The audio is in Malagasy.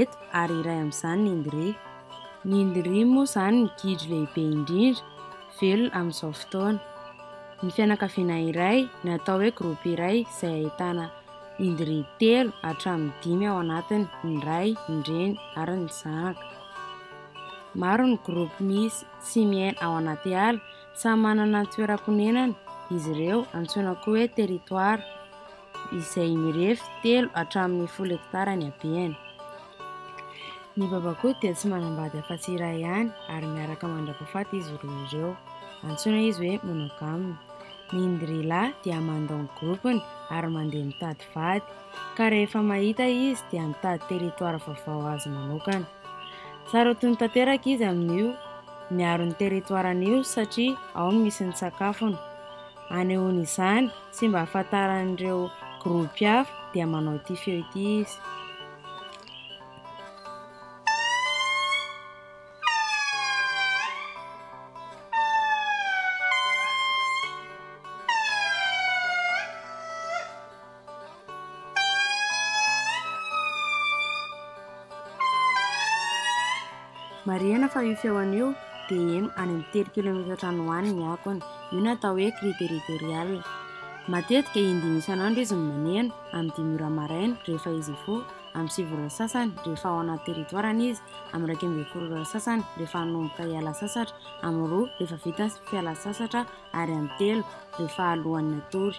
eto ary iray amin'izany ny Ndry. Ny Ndry moa izany ny gidro lehibe indrindra velona amin'izao fotoana. Ny fianakaviana iray na atao hoe groupe iray izay ahitana Ndry telo hatramin'ny dimy ao anatiny, ny ray, ny reny ary ny zanaka. Maro ny groupe misy sy miaina ao anaty ala, samy manana ny toeram-ponenany izy ireo antsoina koa hoe territoire. izay mirefy telo hatramin'ny folo hektara ny habeny. Ny babakoto dia tsy manambady afa-tsy iray ihany ary miaraka mandrapahafaty izy roa ireo. Antsoina izy hoe monogame. Ny indrila dia mandao ny gropiny ary mandeha mitady vady, ka rehefa mahita izy dia mitady teritoara vaovao azy manokana. Sarotiny tanteraka izy amin'io miaro ny teritoaran'io satria ao no misy ny sakafony. Anehoan'izany sy mba hahafantaran'ireo gropy hafa dia manao ity feo ity izy. Marihina fa io feon io dia eny any amin'ny telo kilometatra any ho any ny akony. Io no atao hoe cri territorial. Matetika indimy isan'andro izy no maneno, amin'ny dimy ora maraina rehefa izy hifoha, amin'ny sivy ora sasany rehefa ao anaty territoire-ny izy, amin'ny iraika ambin'ny folo ora sasany rehefa hanomboka hiala sasatra, amin'ny roa rehefa vita ny fialan-tsasatra ary amin'ny telo rehefa alohan'ny hatory.